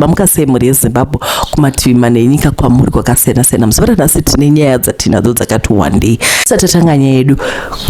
Mamuka sei mhuri yeZimbabwe kumativi mana enyika kwamuri kwakasiyana siyana. Muzuva ranhasi tine nyaya dzatinadzo dzakati wandei. Satatanga nyaya yedu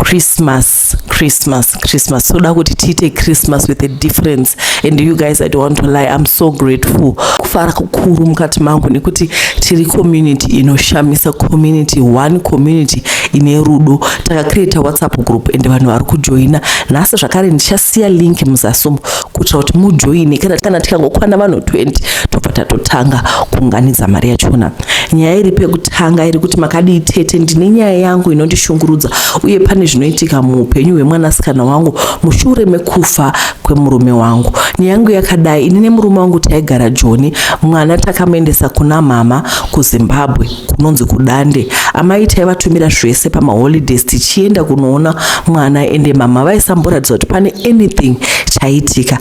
Christmas, Christmas, Christmas. Soda kuti tiite Christmas with a difference and you guys I don't want to lie I'm so grateful. Kufara kukuru mukati mangu nekuti tiri community inoshamisa community one community ine rudo. Takacreata WhatsApp group and vanhu vari kujoina. Nhasi zvakare ndichasiya link muzasumo kuitira kuti mujoine kana kana tikangokwana vanhu 20 tobva tatotanga kuunganidza mari yachona nyaya iri pekutanga iri kuti makadii tete ndine nyaya yangu inondishungurudza uye pane zvinoitika muupenyu hwemwanasikana wangu mushure mekufa kwemurume wangu nyaya yangu yakadai ini nemurume wangu taigara joni mwana takamuendesa kuna mama kuzimbabwe kunonzi kudande amai taivatumira zvese pamaholidays tichienda kunoona mwana ende mama vaisamboratidza kuti pane anything chaitika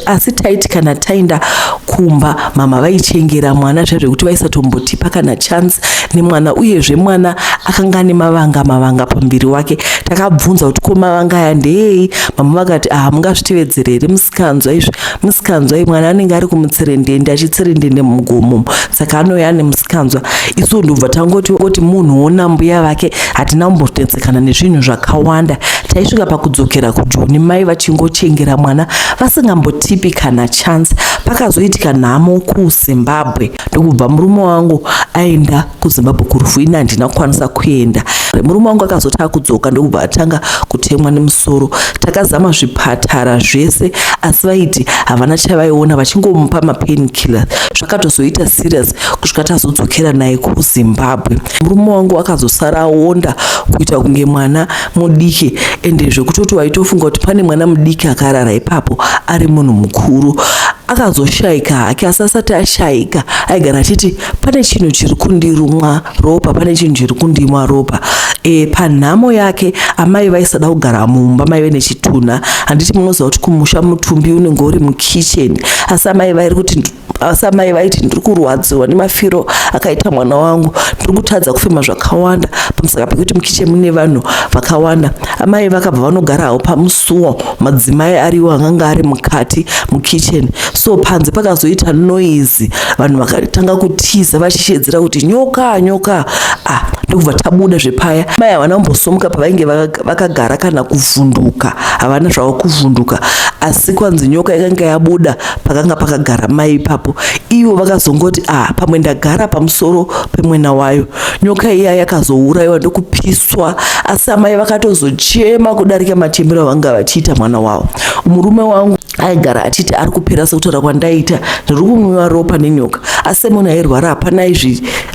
asi taiti kana taenda kumba mama vaichengera mwana zviya zvekuti vaisatombotipa kana chance nemwana uyezve mwana akanga ane mavanga mavanga pamuviri wake takabvunza kuti ko mavanga aya ndeei mama vakati ah mungazvitevedzere here musikanzwa izvi musikanzwa iyi mwana anenge ari kumutserendende achitserendende mugomo saka anouya ane musikanzwa isu ndobva tangoti oti munhu wona mbuya vake hatina kumbototsetsekana nezvinhu zvakawanda taisvika pakudzokera kujoni mai vachingochengera mwana vasingambotipi kana chance pakazoitika nhamo kuzimbabwe ndokubva murume wangu aenda kuzimbabwe kurufu ini handina kukwanisa kuenda murume wangu akazoti akudzoka ndokubva atanga kutemwa nemusoro takazama zvipatara zvese asi vaiti havana chavaiona vachingomupa mapain killer zvakatozoita serious kusvika tazodzokera naye kuzimbabwe murume wangu akazosara aonda kuita kunge mwana mudiki ende zvekutoti waitofunga kuti pane mwana mudiki akarara ipapo ari munhu mukuru akazoshayika hake asi asati ashayika aigara achiti pane chinhu chiri kundirumwa ropa pane chinhu chiri kundimwa ropa e, panhamo yake amai vaisada kugara mumba maive nechitunha handiti munoziva kuti kumusha mutumbi unenge uri mukitchen asi amai vairi kuti asi amai vaiti ndiri kurwadziwa nemafiro akaita mwana wangu ndiri kutadza kufema zvakawanda pamusaka pekuti mukichen mune vanhu vakawanda amai vakabva vanogarawo pamus so madzimai ariwo anganga ari mukati mukitchen so panze pakazoita noise vanhu vakatanga kutiza vachishedzera kuti nyoka nyoka ah ndokubva tabuda zvepaya mai havana kumbosomuka pavainge vakagara kana kuvhunduka havana zvavo kuvhunduka asi kwanzi nyoka yakanga yabuda pakanga pakagara mai ipapo ivo vakazongoti ah pamwe ndagara pamusoro pemwena wayo nyoka iya yakazourayiwa ndokupiswa asi amai vakatozochema kudarika machembero avanga vachiita mwana wavo murume wangu aigara achiti ari kupera sekutaura kwandaita ndiri kunwiwa ropa nenyoka asi munhu airwara hapana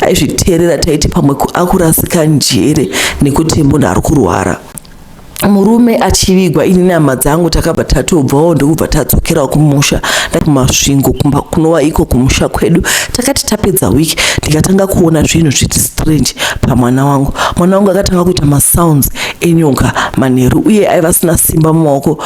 aizviteerera taiti pamwe akurasika njere nekuti munhu ari kurwara murume achivigwa ini nehama dzangu takabva tatobvawo ndokubva tadzokerawo kumusha kumasvingo kumba kunova iko kumusha kwedu takati tapedza week ndikatanga kuona zvinhu zviti strange pamwana wangu mwana wangu akatanga kuita masounds enyoka manheru uye aiva asina simba mumaoko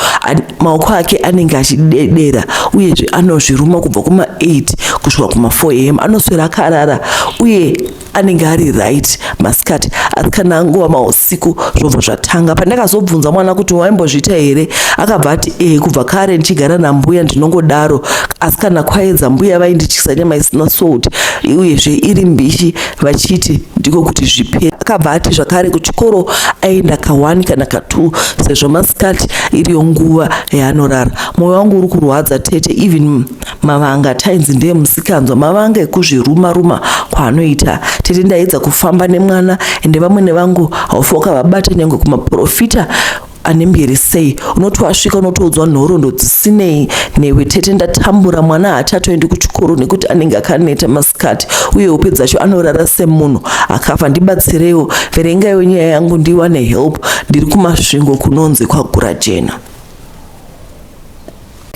maoko ake anenge achidedera uyezve anozviruma kubva kuma 8 kusvika kuma 4 am anoswera akarara uye anenge ari right masikati asi kana anguva mausiku zvobva zvatanga pandakazobvunza mwana kuti waimbozviita here akabva ati e kubva kare ndichigara nambuya ndinongodaro asi kana kwaedza mbuya vaindityisa nyama isina sout uyezve iri mbishi vachiti ndiko kuti zvipere akabva ati zvakare kuchikoro aenda ka1 kana ka2 sezvo masikati iriyo nguva yaanorara mwoyo wangu uri kurwadza tete even mavanga tainzi ndiye musikanzwa mavanga ekuzviruma ruma kwaanoita tete ndaedza kufamba nemwana ende vamwene vangu haufoka vabate nyangwe kumaprofita ane mbiri sei unoti wasvika unotoudzwa nhorondo dzisinei newe tete ndatambura mwana haachatoendi kuchikoro nekuti anenge akaneta masikati uye upe dzacho anorara semunhu akafa ndibatsireiwo verengaiwo nyaya yangu ndiwane help ndiri kumasvingo kunonzi kwagura jena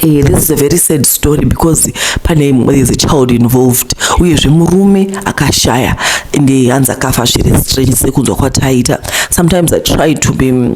Eh, this is a very sad story because pane there's a child involved uyezve murume akashaya and hanzi akafa zviri strange sekunzwa kwataita sometimes i try to be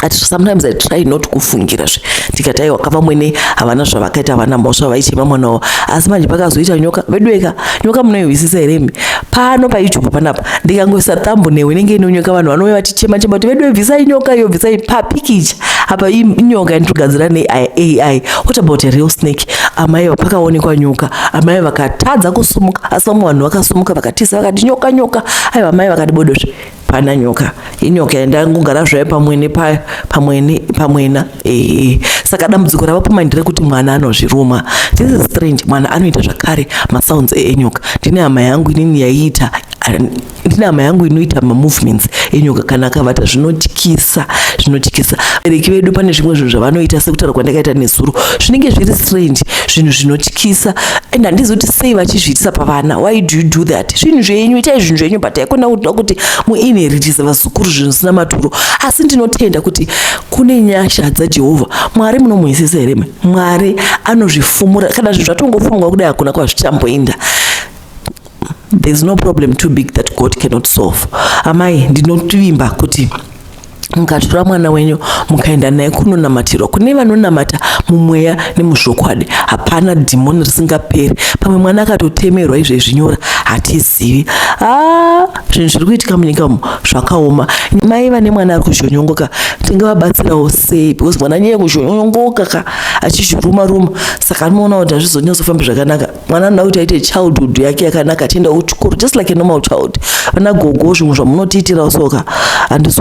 at sometimes i try not kufungira zve ndikati aiwa ka vamwene havana zvavakaita havana mhosva vaichema mwana wavo asi manje pakazoita nyoka veduweka nyoka munoihwisisa here mi pano payoutube panapa ndikangoisa tambo newe inenge inonyoka vanhu vanouya vachichema chema kuti vedu bvisai nyoka iyo bvisai papikicha apa inyoka yanitogadzira neai what about a real snake amai vapakaonekwa nyoka amai vakatadza kusumuka asi vamwe vanhu vakasumuka vakatiza vakati nyoka nyoka aiwa amai vakati bodosve pana nyoka inyoka yandangogara zvayo pamwene payo pamwene pamwena ee saka dambudziko rava pamai ndire kuti mwana anozviruma this is strange mwana anoita zvakare masounds enyoka ndine hama yangu inini yaiita ndine hama yangu inoita mamovements enyoka kana akavata zvinotyisa zvinotyisa bereki vedu pane zvimwe zvinhu zvavanoita sekutaura kwandakaita nezuro zvinenge zviri strange zvinhu zvinotyisa and handizoti sei vachizviitisa pavana why do you do that zvinhu zvenyu itai zvinhu zvenyu but haikona kuti muinheritisa vazukuru zvinhu zvisina maturo asi ndinotenda kuti kune nyasha dzajehovha mwari munomuhwisisa here me mwari anozvifumura kana zvinhu zvatongofumwa kudai hakuna kwazvichamboenda there's no problem too big that god cannot solve amai ndinotvimba kuti mukatora mwana wenyu mukaenda naye kunonamatirwa kune vanonamata mumweya nemuzvokwadi hapana dhimoni risingaperi pamwe mwana akatotemerwa izvezvi nyora hatizivi ah, zvinhu zviri kuitika munyika umu zvakaoma mai vane mwana ari kuzhonyongoka tingavabatsirawo sei because mwana nyeye kuzhonyongoka ka achizviruma ruma saka anoona kuti hazvizonyazofamba zvakanaka mwana anoda kuti aite childhood yake yakanaka achienda kuchikoro just like a normal child vana gogo zvimwe zvamunotiitirawo soka handisi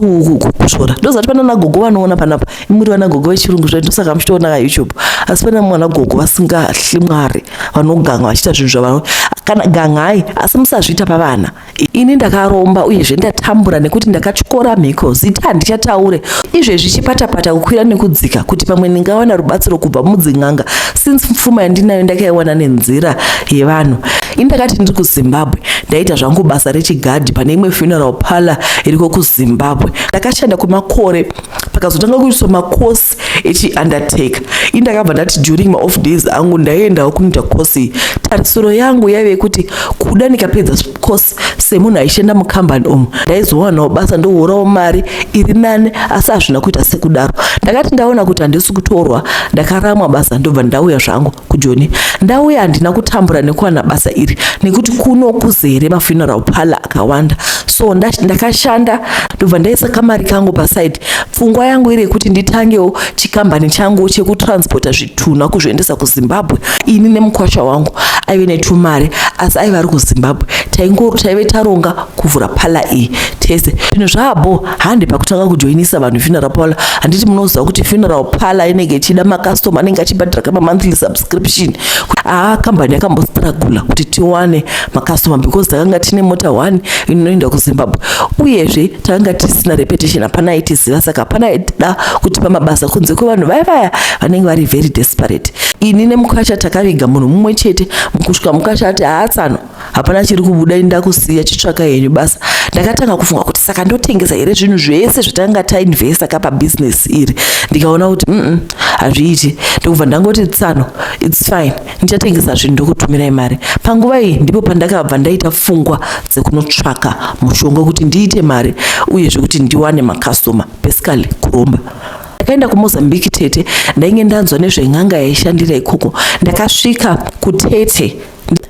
kushora ndozati pana nagogo vanoona panapa imuri vana gogo vechirungu zvaiti ndosaka muchitoona kayoutube asi pana mwana gogo vasingahli mwari vanoganga vachiita zvinhu zvavano kana gangai asi musazviita pavana ini ndakaromba uyezve ndatambura nekuti ndakatyora mhiko zita handichataure izvezvi chipatapata kukwira nekudzika kuti pamwe ndingawana rubatsiro kubva mudzin'anga since pfuma yandinayo ndakaiwana nenzira yevanhu ini ndakati ndiri kuzimbabwe ndaita zvangu basa rechigadhi pane imwe funeral parlor iriko kuzimbabwe ndakashanda kwemakore pakazotanga kuitwa makosi echiundertaker ini ndakabva ndati during maoff days angu ndaiendawo kunoita course tarisiro yangu yaive yekuti kuda ndikapedza course semunhu aishanda mukambani umu ndaizowanawo basa ndohorawo mari iri nani asi hazvina kuita sekudaro ndakati ndaona kuti handisi kutorwa ndakaramwa basa ndobva ndauya zvangu kujoni ndauya handina kutambura nekuwana basa iri nekuti kuno kuzere mafuneral parlor akawanda so ndakashanda ndobva ndaisa kamari kangu paside pfungwa yangu iri yekuti nditangewo chikambani changu chekutransporta zvitunha kuzviendesa kuzimbabwe ini nemukwasha wangu aive netumari asi aive ari kuzimbabwe taingoro taive taronga kuvhura pala iyi tese zvinhu zvaabo hande pakutanga kujoinisa vanhu funeral parlor handiti munoziva kuti funeral parlor inenge ichida macustomer anenge achibhadhira kama monthly subscription aa ah, kambani yakambostragula kuti tiwane macustomer because takanga tine mota one inoenda kuzimbabwe uyezve takanga tisina repetition hapana aitiziva saka hapana aitida kutipa mabasa kunze kwevanhu vaya vaya vanenge vari very desperate ini nemukacha takaviga munhu mumwe chete mukusvika mukacha ati haatsano hapana chiri kubuda ini ndakusiya chitsvaka henyu basa ndakatanga kufunga kuti saka ndotengesa here zvinhu zvese zvatanga tainvesta ka pabusiness iri ndikaona kuti mm hazviiti ndokubva ndangoti tsano its fine ndichatengesa zvinhu ndokutumirai mari panguva iyi ndipo pandakabva ndaita pfungwa dzekunotsvaka mushonga kuti ndiite mari uye zvekuti ndiwane makastoma basically kuromba ndakaenda kumozambique tete ndainge ndanzwa nezven'anga yaishandira ikoko ndakasvika kutete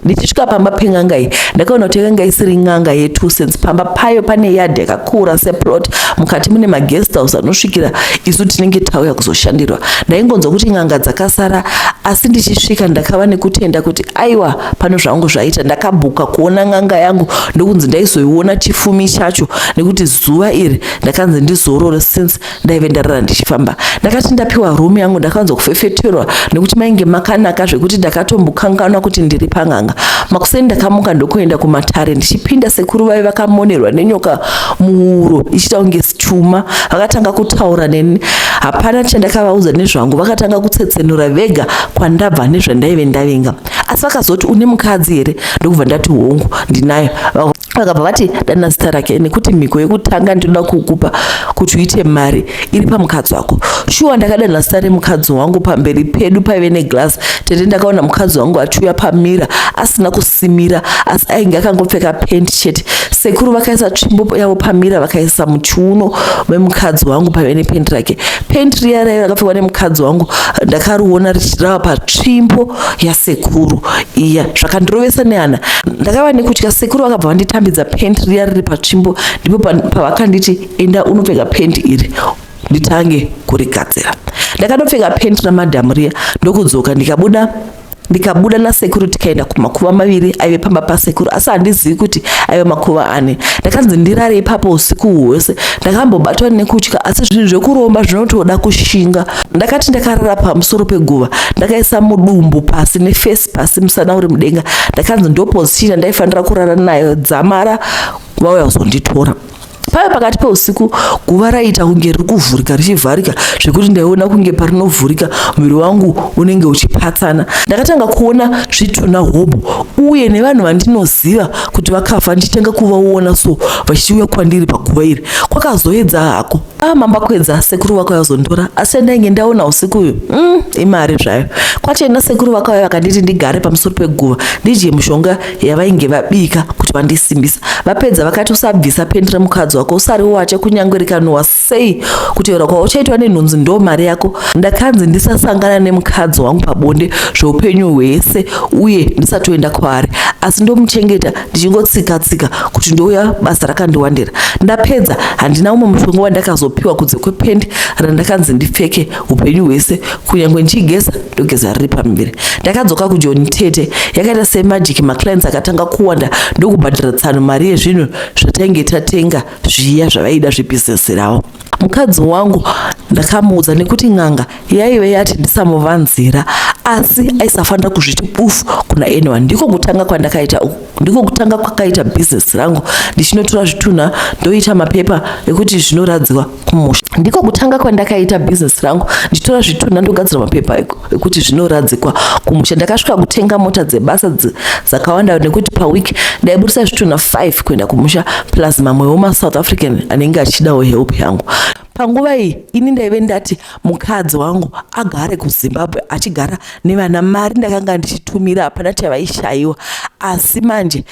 ndichisvika pamba pen'anga iyi ndakaona kuti yakanga isiri n'anga yetu since pamba payo pane yard yakakura seplot mukati mune maguest house anosvikira isu tinenge tauya kuzoshandirwa ndaingonzwa kuti n'anga dzakasara asi ndichisvika ndakava nekutenda kuti aiwa pano zvangu zvaita ndakabhuka kuona n'anga yangu ndokunzi ndaizoiona chifumi chacho nekuti zuva iri ndakanzi ndizorore since ndaive ndarara ndichifamba ndakati ndapiwa room yangu ndakanzwa kufefeterwa nekuti mainge makanaka zvekuti ndakatombokanganwa kuti ndiri pan'anga makuseni ndakamuka ndokuenda kumatare ndichipinda sekuru vaive vakamonerwa nenyoka muhuro ichiita kunge stuma vakatanga kutaura neni hapana chandakavaudza nezvangu vakatanga kutsetsenura vega kwandabva nezvandaive ndavinga asi vakazoti une mukadzi here ndokubva ndati hongu ndinayo vakabva vati dana zita rake nekuti mhiko yekutanga ndinoda kukupa kuti uite mari iri pamukadzi wako shuwa ndakadana zita remukadzi wangu pamberi pedu paive neglass tete ndakaona mukadzi wangu achiuya pamira asina kusimira asi ainge akangopfeka pent chete sekuru vakaisa tsvimbo yavo pamira vakaisa muchiuno memukadzi wangu paive nepent rake pent riya raiva rakapfekwa nemukadzi wangu ndakariona richirava patsvimbo yasekuru iya zvakandirovesa nehana ndakava nekutya sekuru vakabva vanditambidza pent riya riri patsvimbo ndipo pavakanditi enda unopfeka pent iri nditange kurigadzira ndakanopfeka pent ramadhamu riya ndokudzoka ndikabuda ndikabuda nasekuru tikaenda kumakuva maviri aive pamba pasekuru asi handizivi kuti aive makuva ani ndakanzi ndirare ipapo usiku hwose ndakambobatwa nekutya asi zvinhu zvekuromba zvinotoda kushinga ndakati ndakarara pamusoro peguva ndakaisa mudumbu pasi nefesi pasi musana uri mudenga ndakanzi ndoposichina ndaifanira kurara nayo dzamara vauya kuzonditora Pave pakati peusiku guva raiita kunge riri kuvhurika richivharika zvekuti ndaiona kunge parinovhurika muviri wangu unenge uchipatsana. Ndakatanga kuona zvitunha hobho uye nevanhu vandinoziva kuti vakafa ndichitanga kuvaona so vachiuya kwandiri paguva iri. Kwakazoedza hako. Ah mamba kwedza sekuru vako yazondora asi chandainge ndaona usiku uyu mm, imari zvayo. Kwachena sekuru vako vakanditi ndigare pamusoro peguva ndidye mushonga yavainge vabika kuti vandisimbisa vapedza vakati usabvisa pendi remukadzi wako usari wache kunyange rikanowa sei kutaura kwauchaitwa nenhunzi ndo mari yako ndakanzi ndisasangana nemukadzi wangu pabonde zveupenyu hwese uye ndisatoenda kwaari asi ndomuchengeta ndichingotsika tsika kuti ndouya basa rakandiwandira ndapedza handina umwe mushonga wandakazopiwa kunze kwependi randakanzi ndipfeke upenyu hwese kunyange ndichigeza ndogeza riri pamiviri ndakadzoka kujoni tete yakaita semajiki maclients akatanga kuwanda ndokubhadhira tsano mari yezvinhu zvatainge tatenga zviya zvavaida zvebhizinesi ravo mukadzi wangu ndakamuudza nekuti n'anga yaive yati ndisamuvanzira asi aisafanira kuzviti bufu kuna anyone ndiko kutanga kwandakaita uku ndiko kutanga kwakaita business rangu ndichinotora zvitunha ndoita mapepa ekuti zvinoradzwa kumusha ndiko kutanga kwandakaita business rangu ndichitora zvitunha ndogadzira mapepa ekuti zvinoradzikwa kumusha ndakasvika kutenga mota dzebasa dzakawanda nekuti paweek ndaiburitsa zvitunha 5 kuenda kumusha plus mamwewo masouth african anenge achidawo help yangu panguva iyi ini ndaive ndati mukadzi wangu agare kuzimbabwe achigara nevana mari ndakanga ndichitumira hapana chavaishayiwa asi manje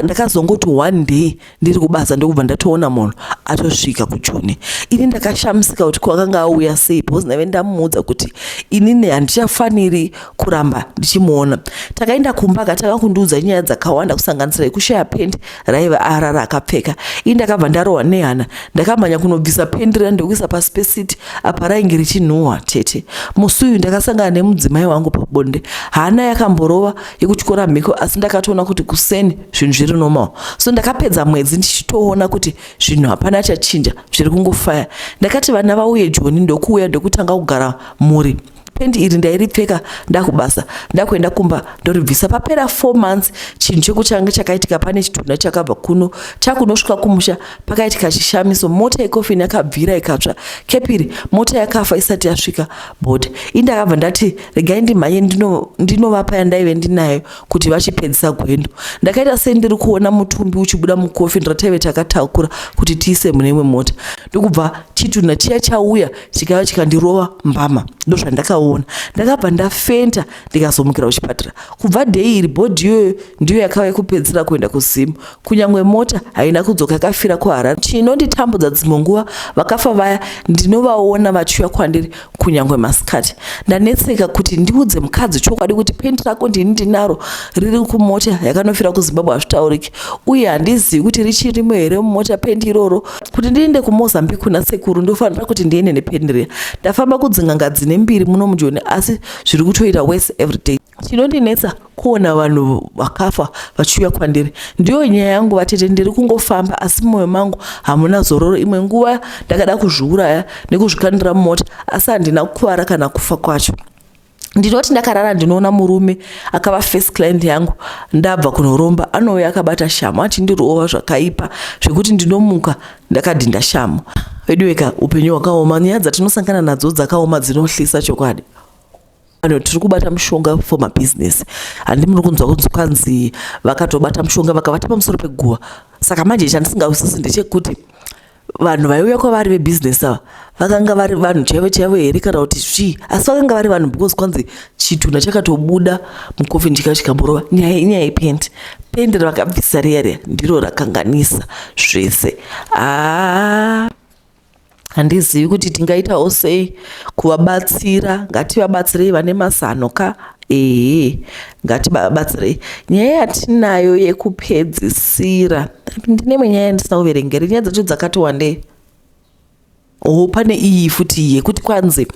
ndakazongoti one day ndiri kubasa ndokubva ndatoona munhu atosvika kujoni ini ndakashamisika kuti kwakanga auya sei because ndaive ndamuudza kuti inini handichafaniri kuramba ndichimuona takaenda kumba akatanga kundiudza nyaya dzakawanda kusanganisira yekushaya pendi raiva ara raakapfeka ii ndakabva ndarohwa nehana ndakamhanya kunobvisa pendi riya ndokuisa pasi pesiti apa rainge richinhuhwa tete musi uyu ndakasangana nemudzimai wangu pabonde hana yakamborova yekutyora mhiko asi ndakatoona kuti kuseni zvinhu zviri normal so ndakapedza mwedzi ndichitoona kuti zvinhu hapana chachinja zviri kungofaya ndakati vana vauye joni ndokuuya ndokutanga kugara mhuri pendi iri ndairipfeka ndakubasa ndakuenda kumba ndoribvisa papera four months chinhu chekuchange chakaitika pane chitunha chakabva kuno chakunosvika kumusha pakaitika chishamiso mota yekofini yakabvira ikatsva kepiri mota yakafa isati yasvika but indakabva ndati regai ndimhanye ndinovapa ndino yandaive ndinayo kuti vachipedzisa gwendo ndakaita sei ndiri kuona mutumbi uchibuda mukofini rataive takatakura kuti tiise mune imwe mota ndokubva chitunha chiya chauya chikauya chikandirova mbama ndozvandakaona ndakabva ndafenta ndikazomukira kuchipatara kubva dei iri bhodhi iyoyo ndiyo yakava yekupedzisira kuenda kuzimu kunyange mota haina kudzoka yakafira kuharare chinonditambudza dzimwe nguva vakafa vaya ndinovaona vachiuya kwandiri kunyange masikati ndanetseka kuti ndiudze mukadzi chokwadi kuti pendi rako ndini ndinaro riri kumota yakanofira kuzimbabwe hazvitauriki uye handizivi kuti richirimo here mumota pendi iroro kuti ndiende kumozambique kuna sekuru ndofanira kuti ndiende nepeni riya ndafamba kudzin'anga dzine mbiri muno mujoni asi zviri kutoita wese everyday chinondinetsa kuona vanhu vakafa vachiuya kwandiri ndiyo nyaya yangu vatete ndiri kungofamba asi mumwoyo mangu hamuna zororo imwe nguva ndakada kuzviuraya nekuzvikandira mumota asi handina kukuvara kana kufa kwacho ndinoti ndakarara ndinoona murume akava first client yangu ndabva kunoromba anouya akabata shamu achindirova zvakaipa zvekuti ndinomuka ndakadhinda shamu veduweka upenyu hwakaoma nyaya dzatinosangana nadzo dzakaoma dzinohlisa chokwadi ano tiri kubata mushonga for mabusiness handi muri kunzwa kunzi kwanzi vakatobata mushonga vakavata pamusoro peguva saka manje chandisingausisi ndechekuti vanhu vaiuya kwavari vebusiness ava vakanga vari vanhu chaivo chaivo here kana kuti zvii asi vakanga vari vanhu because kwanzi chitunha chakatobuda mukofini chikava chikamborova nyaya inyaya yependi pendi ravakabvisa riya riya ndiro rakanganisa zvese aa ah, handizivi kuti tingaitawo sei kuvabatsira ngativabatsirei vane mazano ka ehe ngatibabatsirei nyaya yatinayo yekupedzisira ndine imwe nyaya yandisauverengere nyaya dzacho dzakati wandei o pane iyi futi yekuti kwanzi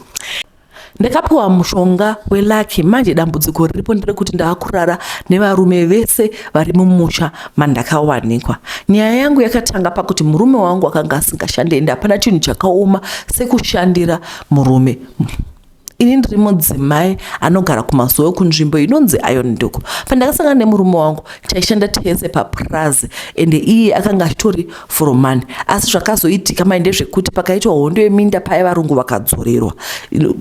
ndakapiwa mushonga welaki manje dambudziko riripo nderekuti ndaakurara nevarume vese vari mumusha mandakawanikwa nyaya yangu yakatanga pakuti murume wangu akanga asingashande ende hapana chinhu chakaoma sekushandira murume ini ndiri mudzimai anogara kumazuva kunzvimbo inonzi iron ndoko pandakasangana nemurume wangu taishanda tese papurazi ende iye akanga achitori foromani asi zvakazoitika mai ndezvekuti pakaitwa hondo yeminda paye varungu vakadzorerwa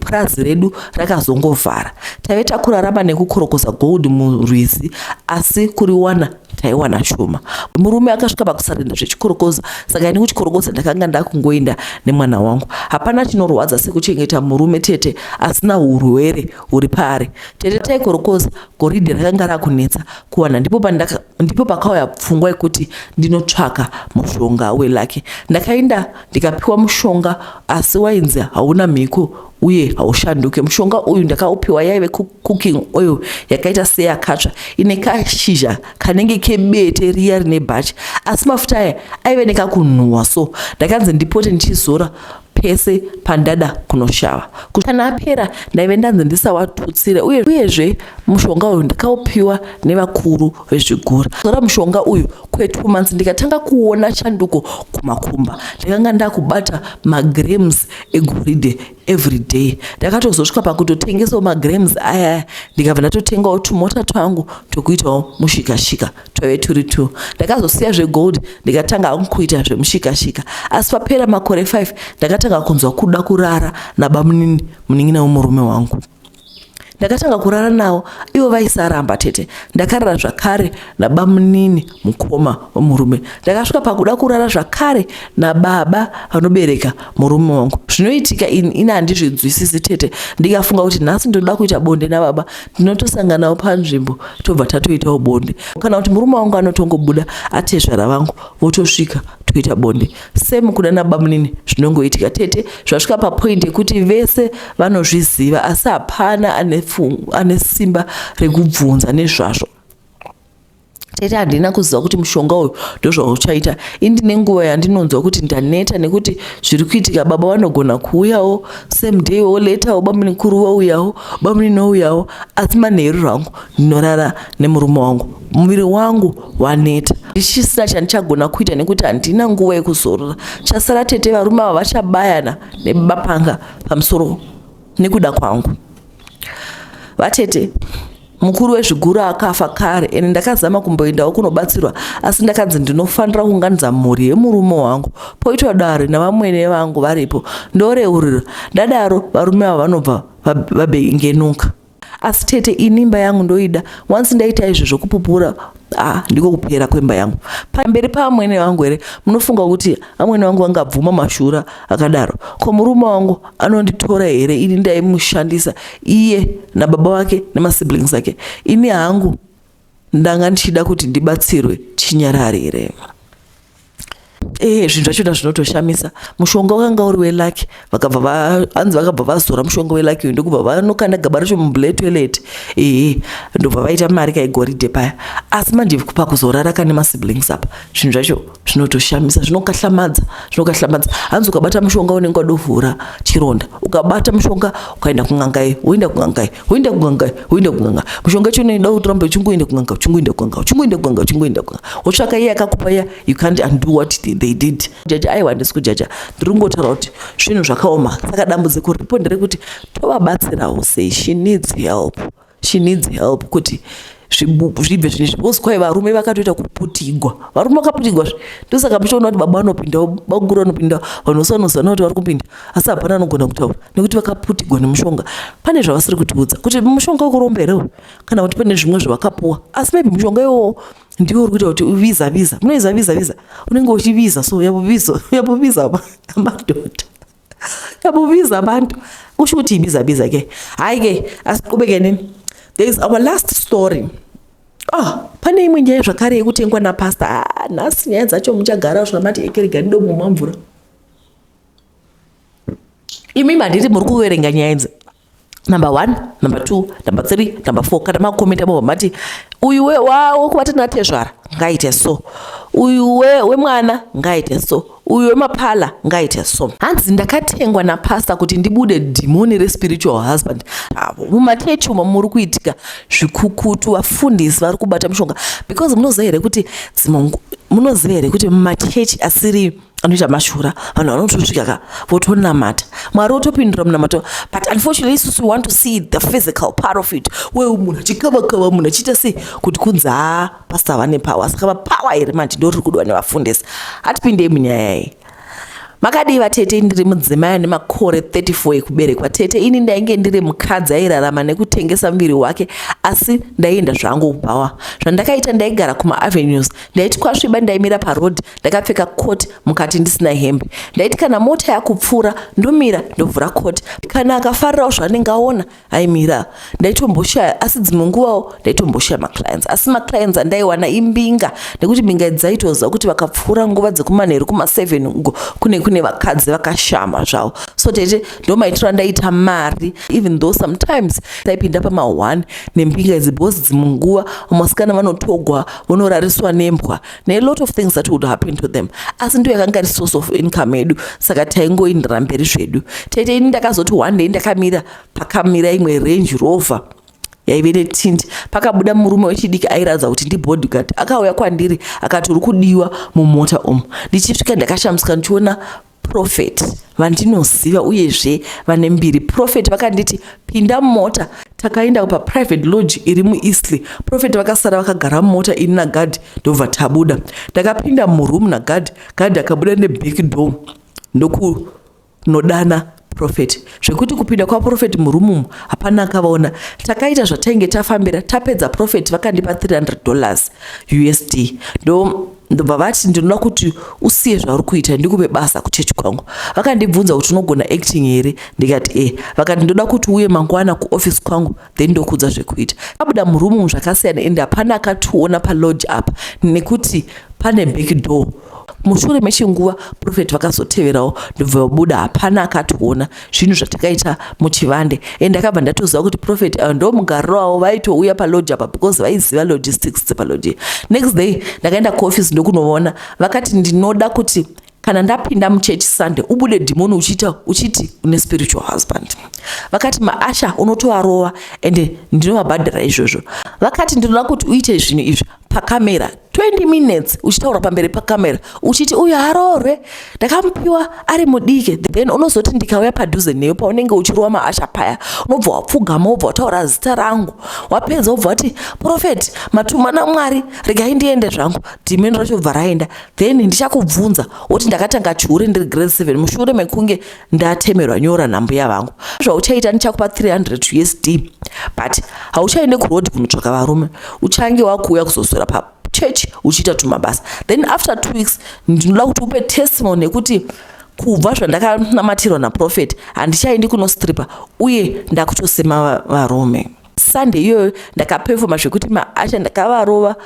purazi redu rakazongovhara taive takurarama nekukorokoza gold murwizi asi kuriwana taiwana shoma murume akasvika pakusarenda zvechikorokoza saka ini kuchikorokoza ndakanga ndakungoenda nemwana wangu hapana chinorwadza sekuchengeta murume tete asina urwere huri paari tete taikorokoza goridhe rakanga rakunetsa kuwana ndipo pandaka ndipo pakauya pfungwa yekuti ndinotsvaka mushonga welake ndakaenda ndikapiwa mushonga asi wainzi hauna mhiko uye haushanduke mushonga uyu ndakaupiwa yaive cooking oil yakaita seyakatsva ine kashizha kanenge kebete riya rine bhachi asi mafuta aya aive nekakunhuwa so ndakanzi ndipote ndichizora pese pandada kunoshava kana apera ndaive ndanzi ndisawatutsire uye uyezve mushonga uyu ndakaupiwa nevakuru vezvigura zora mushonga uyu kwetwo months ndikatanga kuona chanduko kumakumba ndakanga ndakubata magrams egoridhe every day ndakatozosvika pakutotengesawo magrams aya ndikabva ndatotengawo tumota twangu tokuitawo mushikashika twaive turi two ndakazosiya zvegold ndikatanga hangu kuita zvemushikashika asi papera makore five ndakatanga kunzwa kuda kurara nabamunini munin'ina wemurume wangu ndakatanga kurara nawo ivo vaisaramba tete ndakarara zvakare nabamunini mukoma wemurume ndakasvika pakuda kurara zvakare nababa vanobereka murume wangu zvinoitika ini ini handizvinzwisisi tete ndikafunga kuti nhasi ndinoda kuita bonde nababa ndinotosanganawo panzvimbo tobva tatoitawo bonde kana kuti murume wangu anotongobuda atezvara vangu votosvika toita bonde same kuda nabamunini zvinongoitika tete zvasvika papoint yekuti vese vanozviziva asi hapana ane simba rekubvunza nezvazvo tete handina kuziva kuti mushonga uyu ndozvauchaita indine nguva yandinonzwa kuti ndaneta nekuti zviri kuitika baba vanogona kuuyawo same day wo letawo bamunikuru vouyawo bamuninouyawo asi manheru rangu ndinorara nemurume wangu muviri wangu waneta ndichisina chandichagona kuita nekuti handina nguva yekuzorora chasara tete varume ava vachabayana nebapanga pamusoro nekuda kwangu vatete mukuru wezviguru akafa kare ende ndakazama kumboendawo kunobatsirwa asi ndakanzi ndinofanira kuunganidza mhuri yemurume wangu poitwa dare navamwene vangu varipo ndoreurira ndadaro varume ava vanobva vabengenuka asi tete ini imba yangu ndoida once ndaita izvo zvokupupura ah ndiko kupera kwemba yangu pamberi paamwene vangu here munofunga kuti amwene vangu vangabvuma mashura akadaro ko murume wangu anonditora here ini ndaimushandisa iye nababa vake nemasiblings ake ini hangu ndanga ndichida kuti ndibatsirwe chinyararire ee zvinhu zvacho na zvinotoshamisa mushonga wakanga uri welaki vakabva hanzi vakabva vazora mushonga welaki uyu ndokubva vanokanda gaba racho mubuletoilet ee ndobva vaita mari kaigoridhe paya asi manje pakuzorara kane masiblings apa zvinhu zvacho zvinotoshamisa zvinokatlamadza zvinokatlamadza hanzi ukabata mushonga unenge wadovhura chironda ukabata mushonga ukaenda kungangai woenda kungangai woenda kungangai woenda kungangai mushonga chino inoda kuti urambe uchingoenda kungangai uchingoenda kungangai uchingoenda kungangai uchingoenda kungangai wotsvaka iye akakupa iya you can't undo what they did jaja aiwa handisi kujaja ndiri kungotaura kuti zvinhu zvakaoma saka dambudziko riripo nderekuti tovabatsirawo sei she needs help she needs help kuti zvibve zvine because kwaye varume vakatoita kuputigwa varume vakaputigwa zve ndosaka muchiona kuti baba vanopinda bakuru vanopinda vanhu vose vanoziva kuti vari kupinda asi hapana anogona kutaura nekuti vakaputigwa nemushonga pane zvavasiri kutiudza kuti mushonga wekuromba here uyu kana kuti pane zvimwe zvavakapuwa asi maybe mushonga iwowo ndiwo uri kuita kuti uviza viza munoiza viza viza unenge uchiviza so yapoviza yapoviza madhodha yabubiza abantu kusho ukuthi yibizabiza ke hhayi ke asiqhubeke nini there is our last story oh pane imwe nyaya zvakare yekutengwa napastor ah, nhasi nyaya dzacho muchagara zvona mati ekeregani domumwa mvura imi manditi muri kuverenga nyaya idzi number one number two number three number four kana makomenta mobva mati uyu wekubata natezvara ngaite so uyu wemwana ngaite so uyu wemapala ngaite so hanzi ndakatengwa napasta kuti ndibude dhimoni respiritual husband avo mumachechi umo muri kuitika zvikukutu vafundisi vari kubata mushonga because munoziva here kuti munoziva here kuti mumachechi asiri anoita mashura vanhu vanotosvika ka votonamata mwari otopindura munamato but unfortunately isusu we want to see the physical part of it weu munhu achikavakava munhu achiita sei kuti kunzi haa pasta vane power saka vapower here manje ndo riri kudwa nevafundisi hatipindei munyaya iyi makadii vatete ndiri mudzimai ane makore 34 ekuberekwa tete ini ndainge ndiri mukadzi airarama nekutengesa muviri wake asi ndaienda zvangu kubhawa zvandakaita ndaigara kumaavenues ndaiti kwasviba ndaimira paroad ndakapfeka coat mukati ndisina hembe ndaiti kana mota yakupfuura ndomira ndovhura coat kana akafarirawo zvaanenge aona aimira ndaitomboshaya asi dzimwe nguvawo ndaitomboshaya maclients asi maclients andaiwana imbinga nekuti mbinga dzaitoziva kuti vakapfuura nguva dzekumanheru kumaseven uko kune kune vakadzi vakashama zvavo so tete ndomaitiro andaita mari even though sometimes taipinda pamaone nembinga idzi because dzimwe nguva vamasikana vanotogwa vonorariswa nembwa ne lot of things that would happen to them asi ndiyo yakanga iri source of income yedu saka taingoindira mberi zvedu tete ini ndakazoti one day ndakamira pakamira imwe range rover yaive netindi pakabuda murume wechidiki airatidza kuti ndibodyguard akauya kwandiri akati uri kudiwa mumota umu ndichisvika ndakashamisika ndichiona prophet vandinoziva uyezve vane mbiri prophet vakanditi pinda mumota takaenda paprivate lodge iri mueastley prophet vakasara vakagara mumota ini nagadi ndobva tabuda ndakapinda muroom nagadi gadi akabuda neback door ndokunodana profeti zvekuti kupinda kwaprofeti murumumu hapana akavaona takaita zvatainge tafambira tapedza profeti vakandipa 300 dollars usd ndo ndobva vati ndinoda kuti usiye zvauri kuita ndikupe basa kuchechi kwangu vakandibvunza kuti unogona acting here ndikati e vakati ndoda kuti uye mangwana kuoffice kwangu then ndokudza zvekuita abuda murumu zvakasiyana ende hapana akationa palodge apa nekuti pane back door mushure mechinguva profet vakazoteverawo ndobva vabuda hapana akationa zvinhu zvatakaita muchivande and ndakabva ndatoziva kuti profet ayo ndo mugariro wavo vaitouya palodge apa because vaiziva logistics dzepalodge next day ndakaenda kuoffice ndokunoona vakati ndinoda kuti kana ndapinda muchurch sunday ubude dhimoni uchiita uchiti une spiritual husband vakati maasha unotovarova ende ndinovabhadhara izvozvo vakati ndinoda kuti uite zvinhu izvi pacamera 20 minutes uchitaura pamberi pacamera uchiti uyu haroorwe ndakamupiwa ari mudiki then unozoti ndikauya padhuze neyo paunenge uchirova maasha paya unobva wapfugama wobva wataura zita rangu wapedza wobva wati profeti matuma namwari regai ndiende zvangu dhimeni racho bva raenda then ndichakubvunza woti ndakatanga chihure ndiri grade 7 mushure mekunge ndatemerwa nyora nambuya vangu zvauchaita ndichakupa 300 usd but hauchaende kuroad kunotsvaka varume uchange wakuuya kuzosora pa church uchiita tumabasa then after two weeks ndinoda kuti upe testimony yekuti kubva zvandakanamatirwa naprofet handichaendi kunostripa uye ndakutosema varume sunday iyoyo ndakapefoma zvekuti maasha ndakavarova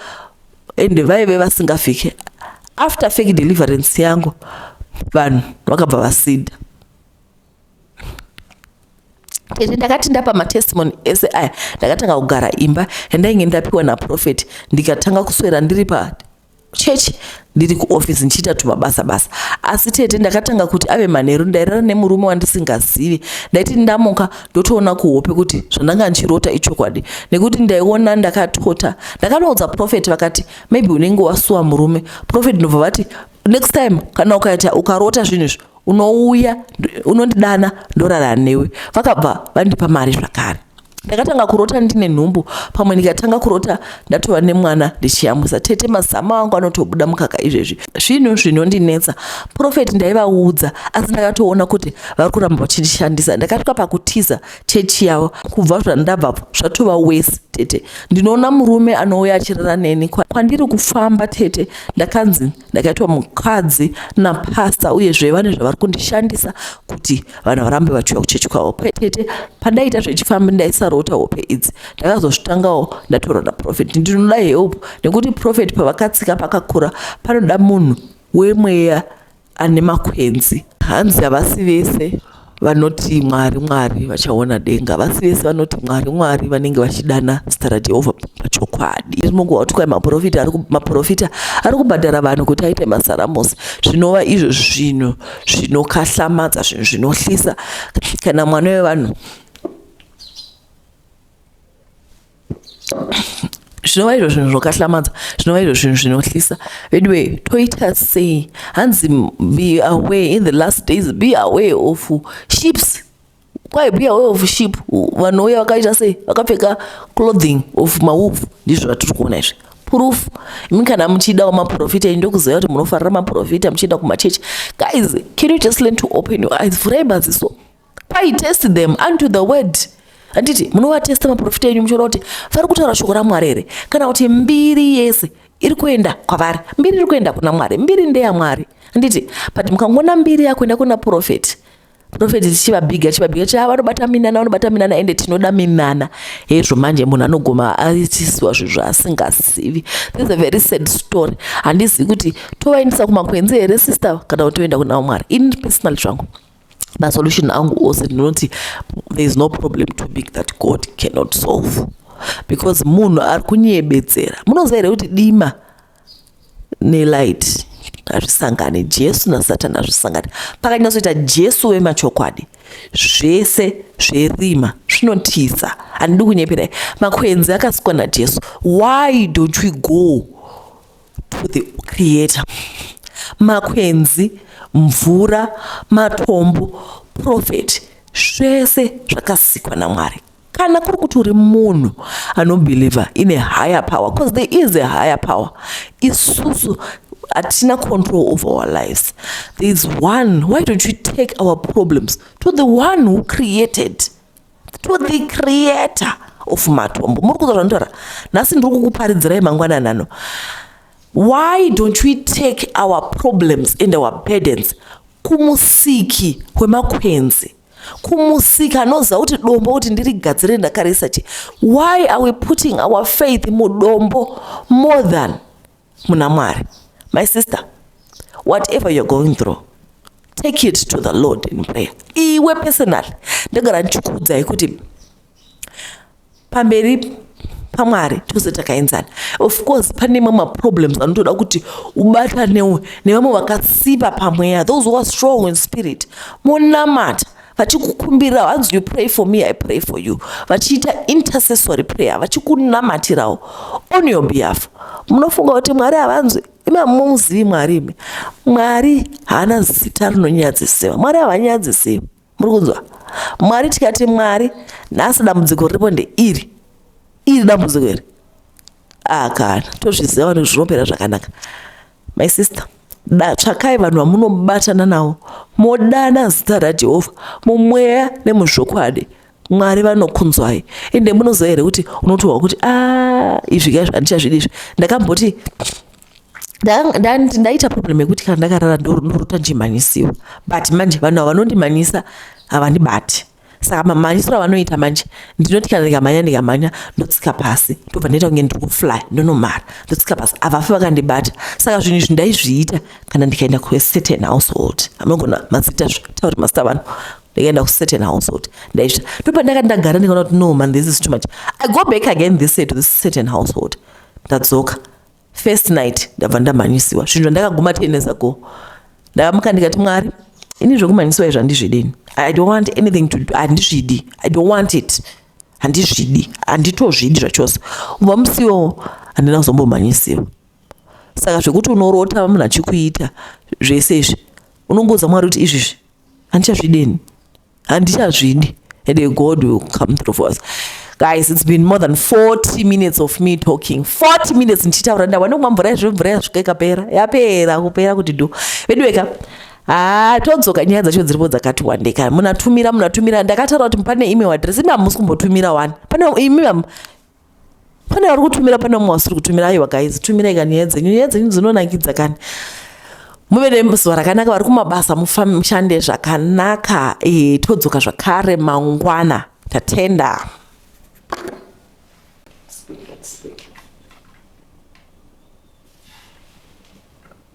ende vaive vasingafike after fake deliverance yangu vanhu vakabva vasida ende ndakati ndapa matestimony ese aya ndakatanga kugara imba yandainge ndapiwa naprofeti ndikatanga kuswera ndiri pa chechi ndiri kuofisi ndichiita tumabasa basa asi tete ndakatanga kuti ave manheru ndairara nemurume wandisingazivi ndaiti ndamuka ndotoona kuhope kuti zvandanga ndichirota ichokwadi nekuti ndaiona ndakatota ndakanoudza profet vakati maybe unenge wasuwa murume profet ndobva vati next time kana ukaita ukarota zvinhu izvi unouya unondidana ndorara newe vakabva vandipa mari zvakare ndakatanga kurota ndine nhumbu pamwe ndikatanga kurota ndatova nemwana ndichiyamwisa tete mazama wangu anotobuda mukaka izvezvi zvinhu zvinondinetsa profeti ndaivaudza asi ndakatoona kuti vari kuramba vachindishandisa ndakasvika pakutiza chechi yavo kubva zvandabvapo zvatova wesi tete ndinoona murume anouya achirara neni kwandiri kufamba tete ndakanzi ndakaitwa mukadzi napasta uyezve vane zvavari kundishandisa kuti vanhu varambe vachiuya kuchechi kwavo kwetete padaita zvechifambi ndaisarota hope idzi ndakazozvitangawo ndataura naprofet ndinoda help nekuti profet pavakatsika pakakura panoda munhu wemweya ane makwenzi hanzi havasi vese vanoti mwari mwari vachaona denga vasi vese vanoti mwari mwari vanenge vachidana zita rajehovha pachokwadi iri munguva kuti kwai maprofita maprofita ari kubhadhara vanhu kuti aite masaramusi zvinova izvo zvinhu zvinokahlamadza zvinhu zvinohlisa kana mwana wevanhu zvinova izvo zvinhu zvokahlamadzwa zvinova izvo zvinhu zvinohlisa veduwe toita sei hanzi be away in the last days be away of ships kwai be away of ship vanouya vakaita sei vakapfeka clothing of mawolf ndizvo zvatiri kuona izvi proof imi kana muchidawo maprofita ini ndokuziva kuti munofarira maprofita muchienda kumachechi guys can you just learn to open your eyes vhurai maziso pai test them unto the word handiti munovatesta maprofita enyu muchiona kuti vari kutaura shoko ramwari here kana kuti mbiri yese iri kuenda kwavari mbiri iri kuenda kuna mwari mbiri ndeyamwari handiti but mukangoona mbiri yakuenda kuna profeti profeti tichivabhiga tichivabhiga tichi vanobata minana vanobata minana ende tinoda minana hezvo manje munhu anogoma aitisiwa zvinhu zvaasingazivi this a very sad story handizivi kuti tovaendesa kumakwenzi here sister kana kuti toenda kuna vamwari ini personal zvangu masolution angu ose ndinoti there is no problem too big that god cannot solve because munhu ari kunyebedzera munoziva here kuti dima nelight hazvisangani jesu nasatani hazvisangani pakanyatsoita jesu wemachokwadi zvese zverima zvinotiza handidi kunyeperai makwenzi akasikwa najesu why don't we go to the creator makwenzi mvura matombo profeti zvese zvakasikwa namwari kana kuri kuti uri munhu anobhilivha ine higher power because there is a higher power isusu hatina control over our lives there is one why don't you take our problems to the one who created to the creator of matombo muri kuza zvandotaura nhasi ndiri kukuparidzirai mangwanani ano why don't we take our problems and our burdens kumusiki kwemakwenzi kumusiki anoziva kuti dombo kuti ndirigadzire ndakarisa chi why are we putting our faith mudombo more than muna mwari my sister whatever you're going through take it to the lord in prayer iwe personal ndagara ndichikuudzai kuti pamberi pamwari tose takaenzana of course pane mamwe maproblems anotoda kuti ubatanewo nevamwe vakasimba pamweya those who are strong in spirit monamata vachikukumbira hanzi you pray for me i pray for you vachiita intercessory prayer vachikunamatirawo on your behalf munofunga kuti mwari havanzwi imamuzivi mwari imi mwari haana zita rinonyadzisiwa mwari havanyadzisiwa muri kunzwa mwari tikati mwari nhasi dambudziko riripo ndeiri iri dambudziko iri akana ah, tozviziva vanhu zvinopera zvakanaka my sister da tsvakai vanhu vamunobatana nawo modana zita rajehovha mumweya nemuzvokwadi mwari vanokunzwai ende munoziva here kuti unotohwa kuti a ah, izvi ka zvandichazvidi izvi ndakamboti ndaita problem yekuti kana ndakarara ndorota ndichimhanyisiwa but manje vanhu ava vanondimhanyisa havandibati saka mamhanyisiro avanoita manje ndinoti kana ndikamhanya ndikamhanya ndotsika pasi ndobva ndaita kunge ndiri kufly ndonomhara ndotsika pasi avafi vakandibata saka zvinhu izvi ndaizviita kana ndikaenda kucertain household amagona mazita zvatauri mazita vanhu ndikaenda kucertain household ndaizvita ndobva ndaka ndagara ndikaona kuti no man this is too much i go back again this to this certain household ndadzoka first night ndabva ndamhanyisiwa zvinhu zvandakaguma ten years ago ndakamuka ndikati mwari ini zvekumhanyisiwa izvo handizvidini i don't want anything to do handizvidi i don't want it handizvidi handitozvidi zvachose kubva musiwo handina kuzombomhanyisiwa saka zvekuti unorota munhu achikuita zvese izvi unongoudza mwari kuti izvizvi handichazvideni handichazvidi and god will come through for us guys it's been more than 40 minutes of me talking 40 minutes ndichitaura ndawana kumwa mvura izvo mvura yasvika ikapera yapera kupera kuti do veduweka haa ah, todzoka nyaya dzacho dziripo dzakati wande kana munatumira munatumira ndakataura kuti pane email address imi hamusi kumbotumira wani pane imi pane vari kutumira pane umwe wasiri kutumira aiwa guys tumirai ka nyaya dzenyu nyaya dzenyu dzinonakidza kani muve nezuva rakanaka vari kumabasa mushande zvakanaka e, todzoka zvakare mangwana tatenda